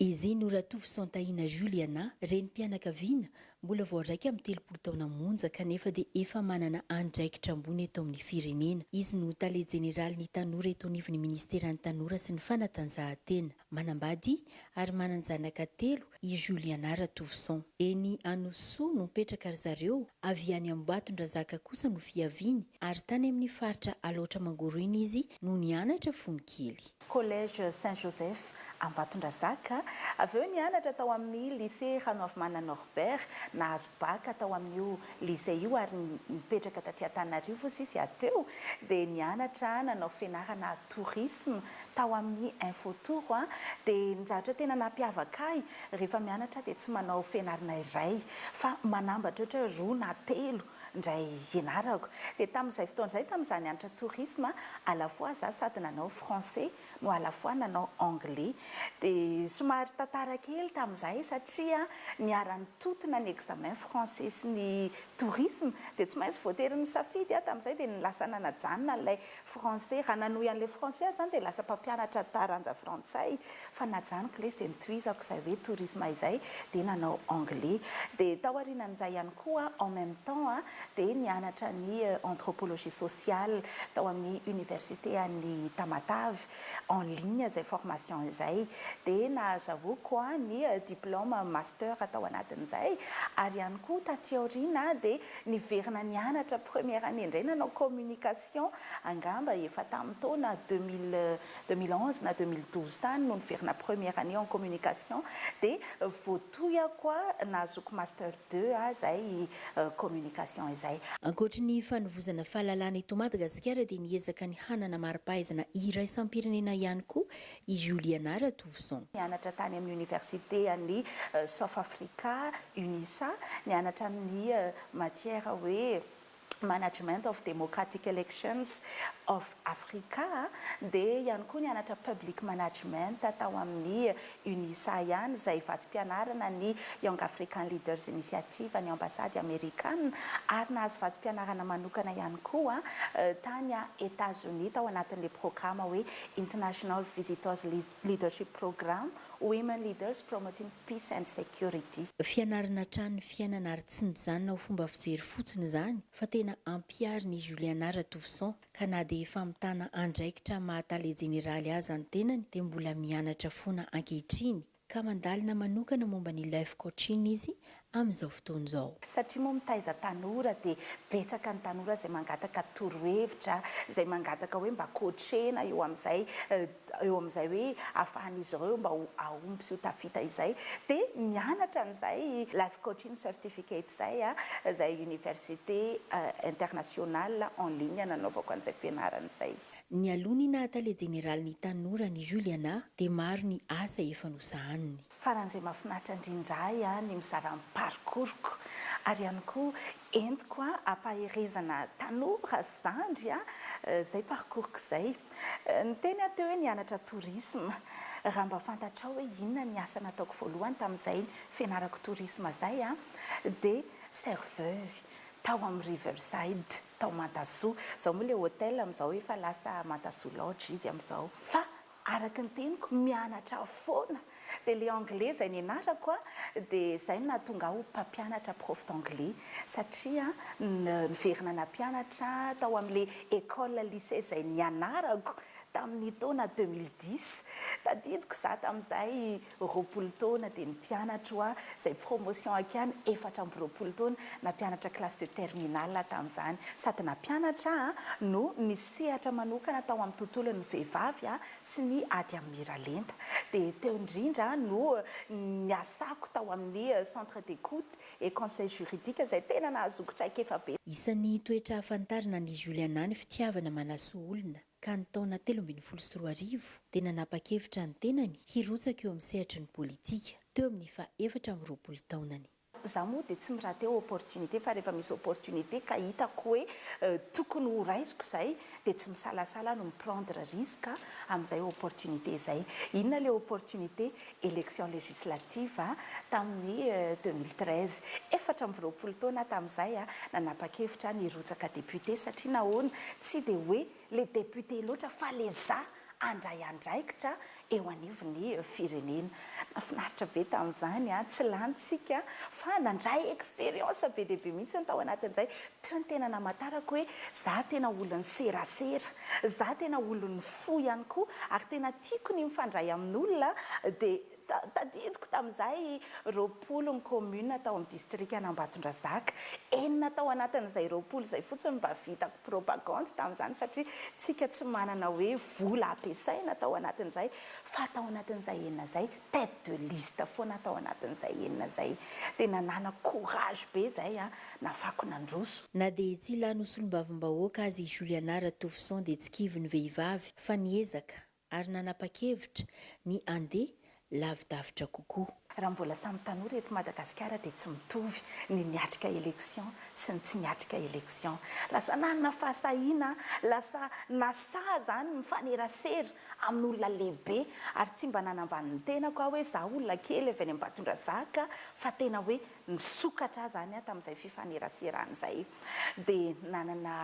Ezeno Ratovoson Tahina Juliana, renim-pianakaviana mbola vao iraika amby telopolo taona monja kanefa dia efa manana andraikitra ambony eto amin'ny firenena. Izy no Tale Jeneralin'ny Tanora eto anivon'ny Ministeran'ny Tanora sy ny Fanatanjahantena. Manambady ary manan-janaka telo i Juliana Ratouvisson. Eny Anosisoa no mipetraka ry zareo, avy any Ambohibatondrazaka kosa no fiaviany ary tany amin'ny faritra Alaotra Mangoro iny izy no nianatra fony kely. Collège Saint Joseph Ambatondrazaka, avy eo nianatra tao amin'ny Lycée Ranoavimana Norbert, nahazo Bac tao amin'io Lycée io ary nipetraka taty Antananarivo sisy aho teo dia nianatra nanao fianarana tourisme tao amin'ny info tour a dia ny zavatra tena nampiavaka ahy rehefa mianatra aho dia tsy manao fianarana iray fa manambatra ohatra hoe roa na telo indray ianarako dia tamin'izay fotoana izay tamin'izaho nianatra tourisme à la fois za sady nanao français no à la fois nanao anglais de somary tantara kely tamin'izahay satria niara-nitontona ny examen français sy ny tourisme dia tsy maintsy voatery nisafidy aho tamin'izay dia lasa nanajanona an'ilay français raha nanohy an'ilay français aho izany dia lasa mpampianatra taranja frantsay fa najanoko ilay izy dia nitohizako izay hoe tourisme izay dia nanao anglais dia tao aorianan'izay ihany koa en même temps dia nianatra ny Anthropologie sociale tao amin'ny Université an'i Tamatave, en ligne izay formation izay, dia nahazahoako ny diplôme master tao anatin'izay, ary ihany koa taty aoriana dia niverina nianatra première année indray nanao communication, angamba efa tamin'ny taona deux mille, deux mille onze na deux mille douze tany no niverina première année en communication, dia voatohiko nahazoako master. Deux a izay communication izay. Ankoatry ny fanovozana fahalalana eto Madagasikara dia niezaka ny hanana mari-pahaizana iraisam-pirenena ihany koa i Juliana Ratovison. Nianatra tany amin'ny Oniversite an'i South Africa, Unisa, nianatra ny matière hoe. Management of Democratic Elections of Africa dia ihany koa nianatra Public Management tao amin'ny Unisa ihany izay vatsim-pianarana ny Young African Leaders Initiative an'ny Ambasady Amerikana ary nahazo vatsim-pianarana manokana ihany koa tany Etazonia tao anatin'ilay programa hoe International Visitors Leadership Program Women Leaders Promoting Peace and Security. Fianarana hatrany ny fiainana ary tsy nijanona ho fomba fijery fotsiny izany fa tena ampiharin' i Juliana Ratouvisson ka na dia efa mitana andraikitra maha Tale Jeneraly aza ny tenany dia mbola mianatra foana ankehitriny ka mandalina manokana momba ny Life Coaching izy amin'izao fotoana izao. Satria moa mitaiza tanora dia betsaka ny tanora izay mangataka torohevitra, izay mangataka hoe mba coachena eo amin'izay eo amin'izay hoe ahafahan'izy ireo mba ho hahomby sy ho tafita izay dia mianatra an'izay life coaching certificate izay izay université internationale en ligne nanaovako an'izay fianarana izay. Nialoha ny naha tale jeneralin'ny tanora an'i Juliana dia maro ny asa efa nosahaniny. Farany izay mahafinaritra indrindra ahy ny mizara ny parcours-ko ary ihany koa entiko ampaherezana tanora sy zandry izay parcours-ko izay. Niteny aho teo hoe nianatra tourisme. Raha mba fantatrao hoe inona ny asa nataoko voalohany tamin'izay fianarako tourisme izay dia serveuse tao amin'ny Riverside tao Mantasoa. Izao moa ilay hôtel amin'izao efa lasa Mantasoa Lodge izy amin'izao fa Araky ny teniko mianatra foana de le anglais izay nianarako a de izay no nahatonga ahy ho mpampianatra prof d'anglais satria niverina nampianatra tao amle ecole lycee izay nianarako tamin'ny taona deux mille dix tadidiko za tamin'izay roapolo taona dia ny mpianatro hoa izay promotion hakiany efatra amby roapolo taona na mpianatra classe de terminale aho tamin'izany sady na mpianatra aho no nisehatra manokana tao amin'ny tontolon'ny vehivavy a sy ny ady amin'ny miralenta dia teo indrindra no niasako tao amin'ny centre d'écoute et conseil juridique izay tena nahazoako traikefa be Isan'ny toetra hahafantarina an'i Juliana ny fitiavana manasoa olona. ka ny taona telo ambin'ny folo sy roa arivo dia nanapa-kevitra ny tenany hirotsaka eo amin'ny sehatry ny politika, teo amin'ny faha efatra amby roapolo taonany. Za moa dia tsy mi-rater opportunité fa rehefa misy opportunité ka hitako hoe tokony ho raisiko izay dia tsy misalasala ny mi-prendre risque amin'izay opportunité izay. Inona ilay opportunité? élection législative tamin'ny deux mille treize, efatra amby roapolo taona aho tamin'izay nanapa-kevitra aho ny hirotsaka député satria nahoana tsy dia hoe le député loatra fa le za handray andraikitra eo anivon'ny firenena. Nafinaritra be tamin'izany an, tsy lanintsika fa nandray expérience be dia be mihitsy ny tao anatin'izay, teo no tena namatarako hoe za tena olon'ny serasera, za tena olon'ny fo ihany koa ary tena. Tiako ny mifandray amin'olona dia tadidiko tamin'izahay roapolo ny commune tao amin'ny distrikan'Ambatondrazaka. Enina tao anatin'izay roapolo izay fotsiny no mba vitako propagande tamin'izany satria tsika tsy manana hoe vola ampiasaina tao anatin'izay fa tao anatin'izay enina izay tête de liste foana tao anatin'izay enina izay. Tena nana courage be izay an, nafako nandroso. Na dia tsy lany ho solombavambahoaka aza i Juliana Ratofison dia tsy kivy ny vehivavy fa niezaka ary nanapa-kevitra ny handeha lavidavitra kokoa. Raha mbola samy tanora eto Madagasikara dia tsy mitovy ny niatrika élection sy ny tsy niatrika élection. Lasa nanana fahasahiana, lasa nasahy izany mifanerasera amin'olona lehibe ary tsy mba nanambany ny tenako aho hoe izaho olona kely avy any Ambatondrazaka fa tena hoe nisokatra aho izany tamin'izay fifaneraserana izay dia nanana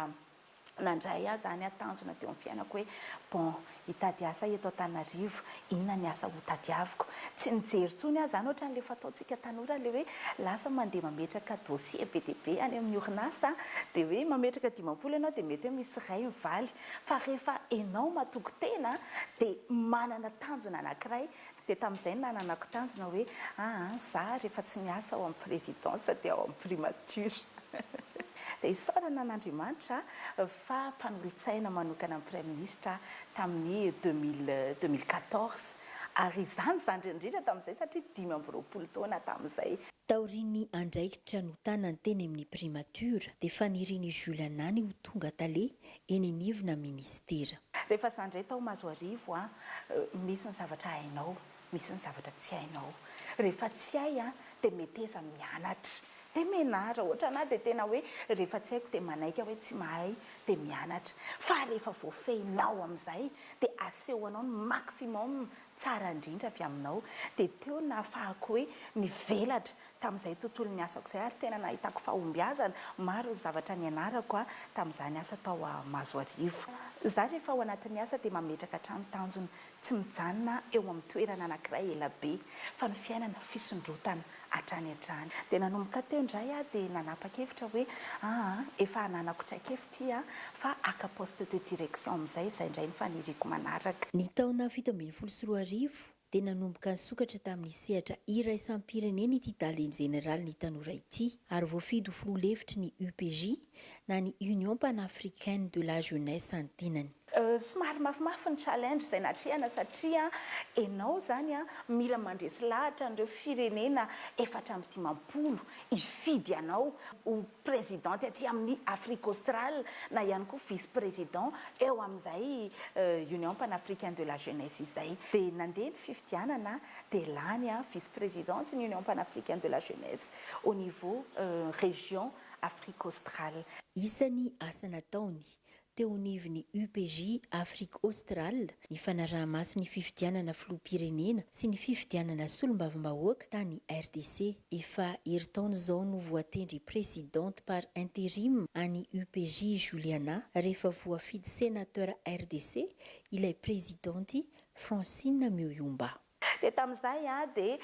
nandray ahy izany tanjona teo amin'ny fiainako hoe bon hitady asa eto Antananarivo inona ny asa ho tadiaviko tsy nijery intsony aho izany ohatran'ilay fataontsika tanora ilay hoe lasa mandeha mametraka dossier be dia be any amin'ny orinasa dia hoe mametraka dimampolo ianao dia mety hoe misy iray mivaly Fa rehefa enao matoky tena de manana tanjona anakiray de tamizay no nananako tanjona hoe aa za rehefa tsy miasa ao amin'ny présidence de ao amin'ny primature de isaorana an'Andriamanitra fa mpanolotsaina manokana ny praiministra aho tamin'ny deux mille deux mille quatorze ary izany zandriny indrindra tamin'izay satria dimy amby roapolo taona tamin'izay. Taorian'ny andraikitra notanany teny amin'ny primature dia fanirian'i Jules Anany ho tonga tale eny anivona minisitera. Rehefa za ndray tao Mazoarivo a, misy ny zavatra hainao, misy ny zavatra tsy hainao. Rehefa tsy hay a, dia meteza mianatra, dia menatra. Ohatra ana dia tena hoe rehefa tsy haiko dia manaiky aho hoe tsy mahay dia mianatra. Fa rehefa voafehinao amin'izay dia asehonao ny maximum tsara indrindra avy aminao. Dia teo no nahafahako hoe mivelatra Tamin'izay tontolon'ny asako izay ary tena nahitako fahombiazana maro ny zavatra nianarako tamin'izany asa tao Mahazoarivo. Izaho rehefa ao anatin'ny asa dia mametraka hatrany tanjona tsy mijanona eo amin'ny toerana anankiray ela be fa ny fiainana fisondrotana hatrany hatrany. Dia nanomboka teo indray aho dia nanapa-kevitra hoe aa efa ananako traikefa ity a fa haka poste de direction amin'izay izay indray ny faniriako manaraka. Ny taona fito ambin'ny folo sy roa arivo, dia nanomboka nisokatra tamin'ny sehatra iraisam-pirenena ity Tale Jeneralin'ny Tanora ity ary voafidy ho filoha lefitry ny UPJ na ny Union Panafricaine de la Jeunesse ny tenany. Somary mafimafy ny challenge izay natrehana satria ianao izany mila mandresy lahatra an'ireo firenena efatra amby dimampolo hifidy anao ho President aty amin'ny Afrique Australe na ihany koa vice president eo amin'izay Union Panafricaine de la Jeunesse izay. Dia nandeha ny fifidianana dia lany vice presidente ny Union Panafricaine de la Jeunesse au niveau région Afrique Australe. Isan'ny asa nataony Teo anivon'ny UPJ Afrique Australe ny fanaraha-maso ny fifidianana filoham-pirenena sy ny fifidianana solombavambahoaka tany RDC. Efa herintaona izao no voatendry Presidente par interim an'i UPJ i Juliana rehefa voafidy Senateur RDC ilay Prezidanty Francine Muyumba. Dia tamin'izay dia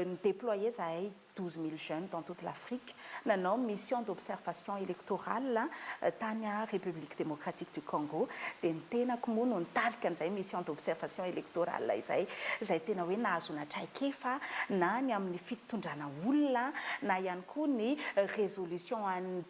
ni-déployer zahay douze mille jeunes dans toute l'Afrique, nanao mission d'observation électorale tany République Démocratique du Congo, dia ny tenako moa no nitarika an'izay mission d'observation électorale izay, izay tena hoe nahazoana traikefa na ny amin'ny fitondrana olona na ihany koa ny résolution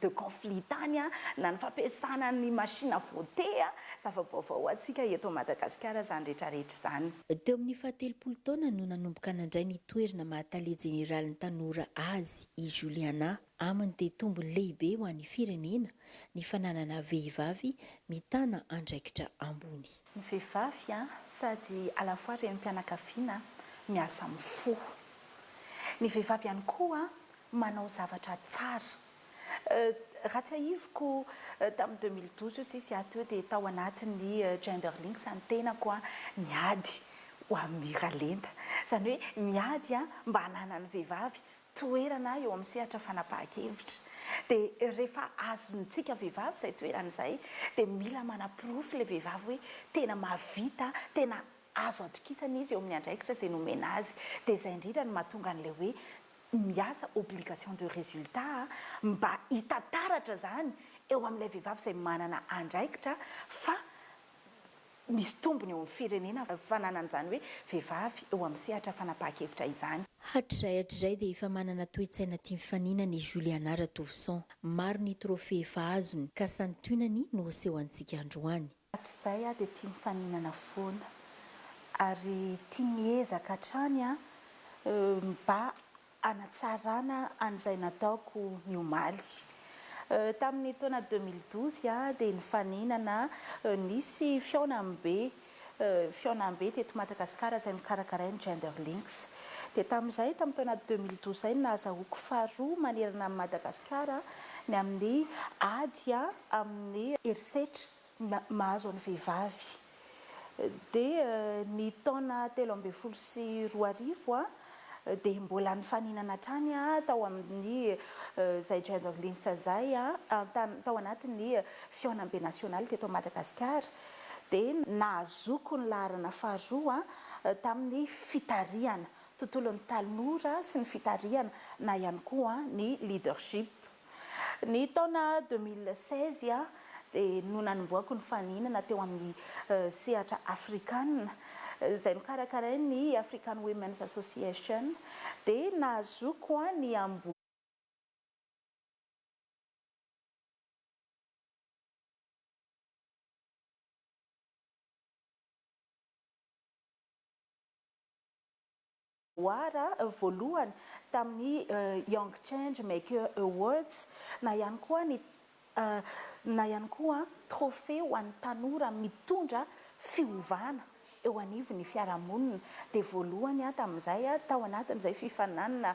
de conflit tany na ny fampiasana ny machine à voter. Zava-baovao ho antsika eto Madagasikara izany rehetrarehetra izany. Teo amin'ny fahatelopolo taona no nanomboka nandray ny toerna maha tale jeneralin'ny tanora azy i Juliana. Aminy dia tombony lehibe ho an'ny firenena ny fananana vehivavy mitana andraikitra ambony. Ny vehivavy sady à la fois renim-pianakaviana, miasa mifoha. Ny vehivavy ihany koa manao zavatra tsara. Raha tsiahiviko tamin'ny deux mille douze eo sisa aho teo dia tao anatin'ny Gender Links ny tenako niady ho amin'ny Miralenta. Izany hoe miady mba hananan'ny vehivavy toerana eo amin'ny sehatra fanapahan-kevitra. Dia rehefa azontsika vehivavy izay toerana izay dia mila manaporofo ilay vehivavy hoe tena mahavita, tena azo atokisana izy eo amin'ny andraikitra izay nomena azy. Dia izay indrindra no mahatonga an'ilay hoe miasa obligation de résultat mba hita taratra izany eo amin'ilay vehivavy izay manana andraikitra fa misy tombony eo amin'ny firenena ny fananana izany hoe vehivavy eo amin'ny sehatra fanapahan-kevitra izany. Hatrizay hatrizay dia efa manana toe-tsaina tia mifaninana i Juliana Ratovison. Maro ny trophée efa azony, ka santionany no aseho antsika androany. Hatrizay aho dia tia mifaninana foana ary tia miezaka hatrany mba hanatsarana an'izay nataoko ny omaly. Tamin'ny taona deux mille douze aho dia nifaninana nisy fihaonambe fihaonambe teto Madagasikara izay nokarakarain'ny Gender Links. Dia tamin'izay tamin'ny taona deux mille douze izay no nahazahoako faharoa manerana an'i Madagasikara ny amin'ny ady amin'ny herisetra mahazo an'ny vehivavy dia ny taona telo ambin'ny folo sy roa arivo dia mbola nifaninana hatrany tao amin'ny izay Gender Links izay tao anatin'ny fihaonambe nasionaly teto Madagasikara dia nahazoako ny laharana faharoa tamin'ny fitarihana tontolon'ny tanora sy ny fitarihana na ihany koa ny leadership. Ny taona deux mille seize dia no nanombohako ny faninana teo amin'ny sehatra afrikana izay nokarakarain'ny African Women's Association dia nahazoako ny War voalohany tamin'ny Young Change Maker Awards na ihany koa ny na ihany koa trophée ho an'ny tanora mitondra fiovana eo anivon'ny fiarahamonina dia voalohany aho tamin'izay tao anatin'izay fifaninanana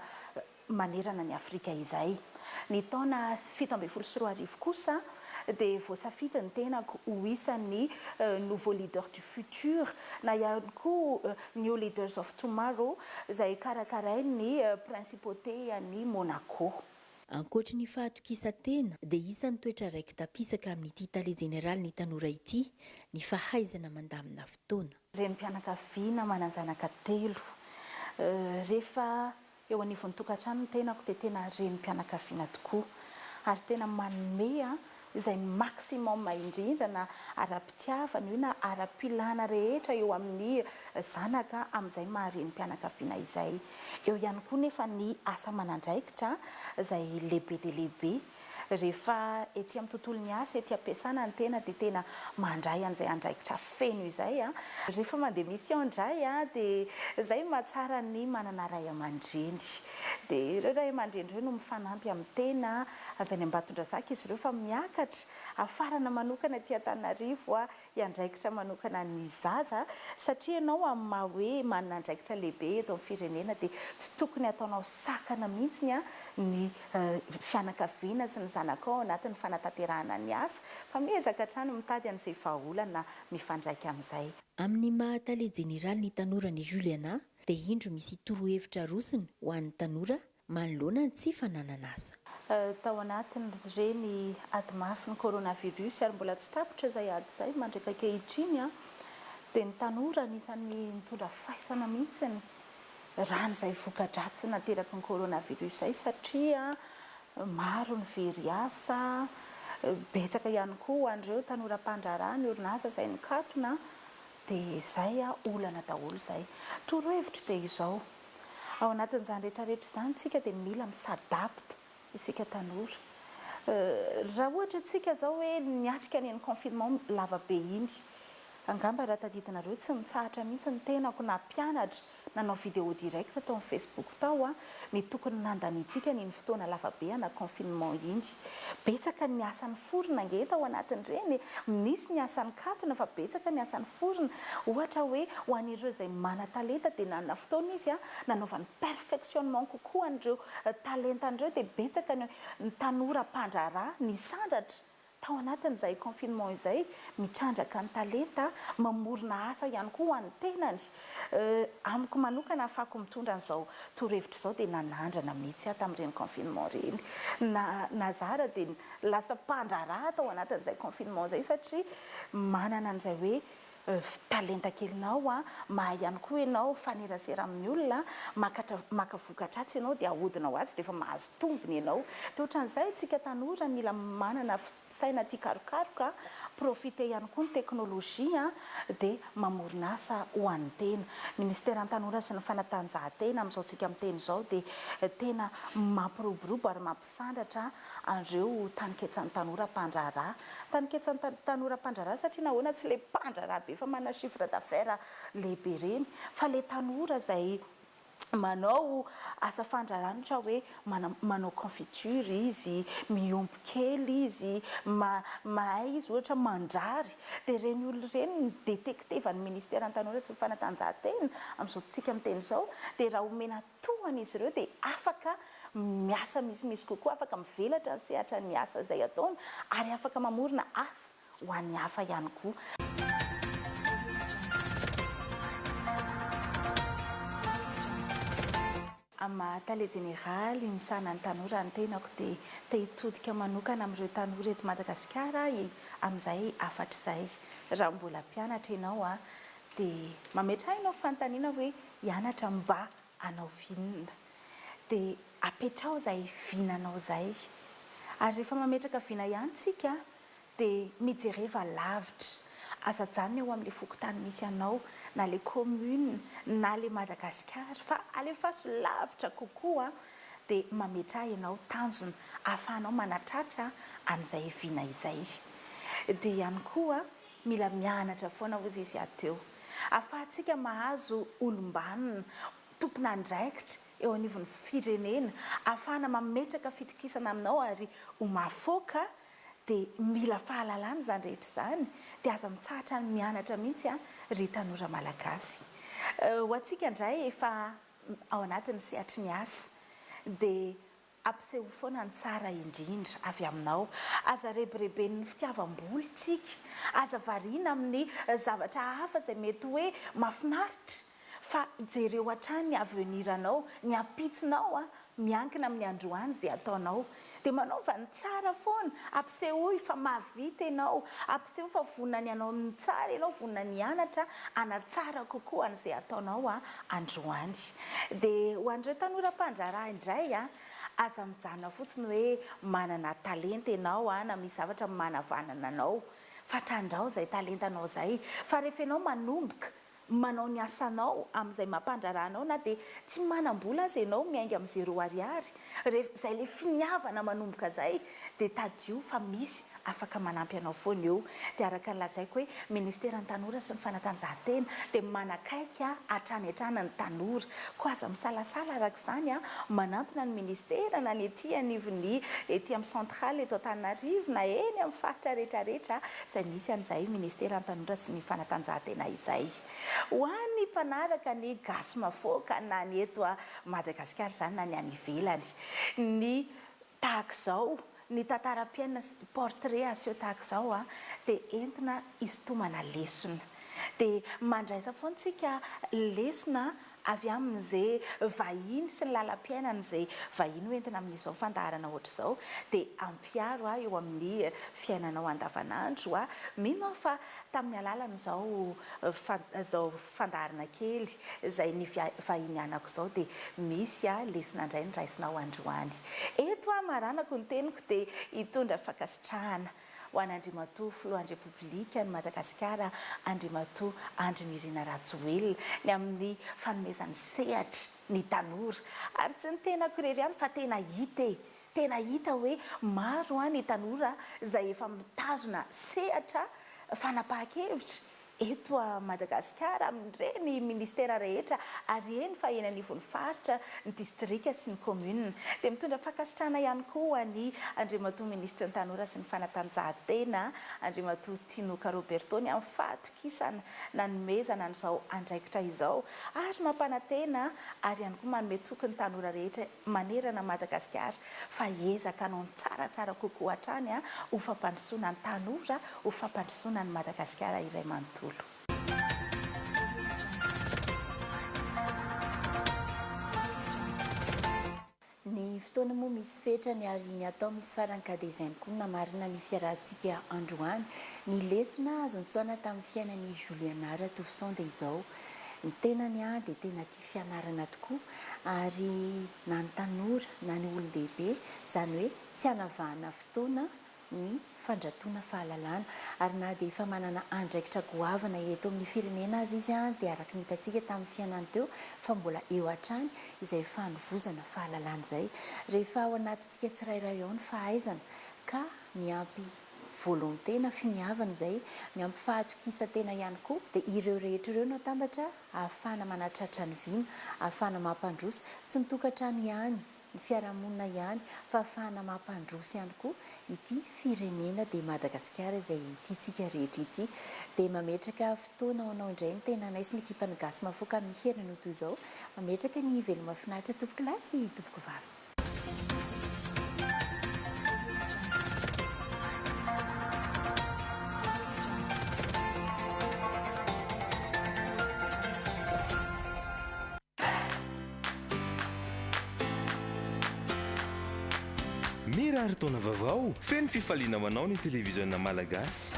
manerana an'i Afrika izay. Ny taona fito ambin'ny folo sy roa arivo kosa dia voasafidy ny tenako ho isan'ny Nouveaux Leaders du Futur na ihany koa New Leaders of Tomorrow izay karakarain'ny Principauté-an'i Monaco. Ankoatry ny fahatokisan-tena dia isan'ny toetra raiki-tapisaka amin'ity Tale Jeneralin'ny Tanora ity ny fahaizana mandamina fotoana. Renim-pianakaviana manan-janaka telo. Rehefa eo anivon'ny tokantrano ny tenako dia tena renim-pianakaviana tokoa ary tena manome izay maximum indrindra na ara-pitiavana io na ara-pilana rehetra eo amin'ny zanaka amin'izay maha renim-pianakaviana izay. Eo ihany koa nefa ny asa aman'andraikitra izay lehibe dia lehibe. Rehefa ety amin'ny tontolon'ny asa, ety am-piasana ny tena dia tena mandray an'izay andraikitra feno izay. Rehefa mandeha mission indray dia izay no mahatsara ny manana ray aman-dreny. Dia ireo ray aman-dreny ireo no mifanampy amin'ny tena. Avy any Ambatondrazaka izy ireo fa miakatra hafarana manokana aty Antananarivo hiandraikitra manokana ny zaza satria ianao amin'ny maha hoe manana andraikitra lehibe eto amin'ny firenena dia tsy tokony ataonao sakana mihitsy ny fianakaviana sy ny zanakao ao anatin'ny fanatanterahana ny asa fa miezaka hatrany mitady an'izay vahaolana mifandraika amin'izay. Amin'ny maha Tale Jeneralin'ny Tanora an'i Juliana dia indro misy torohevitra arosony ho an'ny tanora Manoloana ny tsy fananan'asa. Tao anatin'ireny ady mafy ny coronavirus ary mbola tsy tapitra izay ady izay mandraka ankehitriny dia ny tanora anisan'ny nitondra faisana mihitsy ny rany izay voka-dratsy nateraky ny coronavirus izay satria maro ny very asa, betsaka ihany koa ho an'ireo tanora mpandraharaha ny orinasa izay nikatona dia izay olana daholo izay. Torohevitro dia izao. Ao anatin'izany rehetra rehetra izany isika dia mila mi s'adapte isika tanora. Raha ohatra isika izao hoe niatrika an'iny confinement lava be iny, angamba raha tadidinareo tsy mitsahatra mihitsy ny tenako na mpianatra nanao vidéo direct tao amin'ny facebook tao, ny tokony nandanintsika an'iny fotoana lava be ana confinement iny. Betsaka ny asa niforona ange tao anatin'ireny e! Nisy ny asa nikatona fa betsaka ny asa niforona. Ohatra hoe ho an'ireo izay manan-talenta dia nanana fotoana izy nanaovany perfectionnement kokoa an'ireo talentany ireo dia betsaka ny tanora mpandraharaha nisandratra tao anatin'izay confinement izay mitrandraka ny talenta mamorona asa ihany koa ho an'ny tenany. Euh, amiko manokana afako mitondra an'izao torohevitra izao dia nanandrana mihitsy aho tamin'ireny confinement ireny. Na, nazara dia lasa mpandraharaha tao anatin'izay confinement izay satria manana an'izay hoe euh, talenta kelinao an, mahay ihany koa ianao mifanerasera amin'ny olona an, makatra, maka vokatra atsy ianao dia ahodina ho atsy dia efa mahazo tombony ianao. Dia ohatran'izay tsika tanora mila manana fi, saina tia karokaroka, profiter ihany koa ny teknolojia dia mamorona asa ho an'ny tena. Ny Minisiteran'ny Tanora sy ny Fanatanjahantena amin'izao tsika miteny izao dia tena mampiroborobo ary mampisandratra an'ireo taninketsan'ny tanora mpandraharaha. Taninketsan'ny tanora mpandraharaha satria nahoana tsy ilay mpandraharaha be fa manana chiffre d'affaires lehibe ireny fa ilay tanora izay manao asa fandraranitra hoe manao confiture izy, miompy kely izy, mahay izy ohatra mandrary, dia ireny olona ireny no detektevan'ny Ministeran'ny Tanora sy ny Fanatanjahantena amin'izao fotoantsika miteny izao, dia raha omena tohana izy ireo dia afaka miasa misimisy kokoa, afaka mivelatra ny sehatran'ny asa izay ataony ary afaka mamorona asa. ho an'ny hafa ihany koa. Amin'ny maha Tale Jeneraly misahana ny tanora ny tenako dia te hitodika manokana amin'ireo tanora eto Madagasikara aho e! Amin'izay hafatr'izay, raha mbola mpianatra ianao dia mametraha ianao fanontaniana hoe hianatra mba hanao inona? Dia apetraho izay vinanao izay. Ary rehefa mametraka vina ihany tsika Dia mijereva lavitra. Aza ajanona eo amin'ilay fokontany misy anao, na ilay commune, na ilay Madagasikara, fa alefaso lavitra kokoa, dia mametraha ianao tanjona ahafahanao manatratra an'izay vina izay. Dia ihany koa, mila mianatra foana hozy izy aho teo. Ahafahantsika mahazo olom-banona, tompon'andraikitra eo anivon'ny firenena, ahafahana mametraka fitokisana aminao ary ho mahafaoka Dia mila fahalalana izany rehetra izany, dia aza mitsahatra ny mianatra mihitsy an ry tanora malagasy. Ho antsika indray efa ao anatin'ny sehatry ny asa dia ampiseho foana ny tsara indrindra avy aminao. Aza rebireben'ny fitiavam-bola isika, aza variana amin'ny zavatra hafa izay mety hoe mahafinaritra. Fa jereo hatrany ny avenir anao, ny ampitsonao an, miankina amin'ny androany izay ataonao. Dia manaova ny tsara foana, ampisehoy fa mahavita ianao, ampisehoy fa vonona ny hanao ny tsara ianao, vonona ny hianatra hanatsara kokoa an'izay ataonao an, androany. Dia ho an'ireo tanora mpandraharaha indray an, aza mijanona fotsiny hoe manana talenta ianao an, na misy zavatra manavanana anao, fa trandraho izay talentanao izay, fa rehefa ianao manomboka manao ny asanao amin'izay mampandrara anao na dia tsy manam-bola aza ianao miainga amin'ny zéro ariary, rehefa izay ilay finiavana manomboka izay dia tadidio fa misy afaka manampy anao foana eo dia araka ny lazaiko hoe ministeran'ny tanora sy ny fanatanjahantena dia manakaiky hatrany hatrany ny tanora koa aza misalasala araka izany an manantona ny ministera na ny ety anivon'ny ety amin'ny centrale eto Antananarivo na eny amin'ny faritra rehetra rehetra izay misy an'izay ministeran'ny tanora sy ny fanatanjahantena izay. Ho an'ny mpanaraka ny gasy mafoaka na ny eto Madagasikara izany na ny any ivelany. Ny tahaka izao, ny tantaram-piainana sy portrait aseho tahaka izao dia entina hisintomana lesona. Dia mandraisa foana isika lesona. avy amin'izay vahiny sy ny lalam-piainan'izay vahiny ho entina amin'izao fandaharana hoatr'izao dia ampiaro ahy eo amin'ny fiainanao andavanandro aho, mino aho fa tamin'ny alalan'izao izao fandaharana kely izay nivahinianako izao dia misy lesona indray noraisinao androany eto aho, maranako ny teniko dia hitondra fankasitrahana Ho an'Andriamatoa Filohan'ny Repoblikan'i Madagasikara, Andriamatoa Andry Nirina Rajoelina, ny amin'ny fanomezany sehatra ny tanora. Ary tsy ny tenako irery ihany fa tena hita e! Tena hita hoe maro ny tanora izay efa mitazona sehatra fanapahan-kevitra eto Madagasikara amin'ireny Ministera rehetra ary eny fa eny anivon'ny Faritra, ny Distrika sy ny Kaominina. Dia mitondra fankasitrahana ihany koa ho an'i Andriamatoa Minisitra ny Tanora sy ny Fanatanjahantena, Andriamatoa Tinoka Roberto ny amin'ny fahatokisana nanomezana an'izao andraikitra izao ary mampanantena ary ihany koa manome toky ny tanora rehetra manerana an'i Madagasikara fa hiezaka hanao ny tsaratsara kokoa hatrany ho fampandrosoana ny tanora, ho fampandrosoana an'i Madagasikara iray manontolo. Ny fotoana moa misy fetrany ary ny atao misy farany ka dia izay koa no namarina ny fiarahantsika androany. Ny lesona azo notsoahina tamin'ny fiainan'i Juliana Ratolison dia izao, Ny tenany aho dia tena tia fianarana tokoa ary na ny tanora na ny olon-dehibe, izany hoe tsy anavahana fotoana ny fandratoana fahalalana. Ary na dia efa manana andraikitra goavana eto amin'ny firenena aza izy dia araka ny hitantsika tamin'ny fiainany teo fa mbola eo hatrany izay fanovozana fahalalana izay rehefa ao anatintsika tsirairay ao ny fahaizana ka miampy volonté na finiavana izay miampy fahatokisan-tena ihany koa dia ireo rehetra ireo no atambatra ahafahana manatratra ny vina, ahafahana mampandroso tsy ny tokantrano ihany, ny fiarahamonina ihany fa ahafahana mampandroso ihany koa ity firenena dia Madagasikara izay tiantsika rehetra ity. Dia mametraka fotoana ho anao indray ny tenanay sy ny ekipan'ny Gasy Mahafoka amin'ny herin'anio toy izao. Mametraka ny veloma finaritra tompokolahy sy tompokovavy. Mirary taona vaovao feno fifaliana ho anao ny televiziona Malagasy.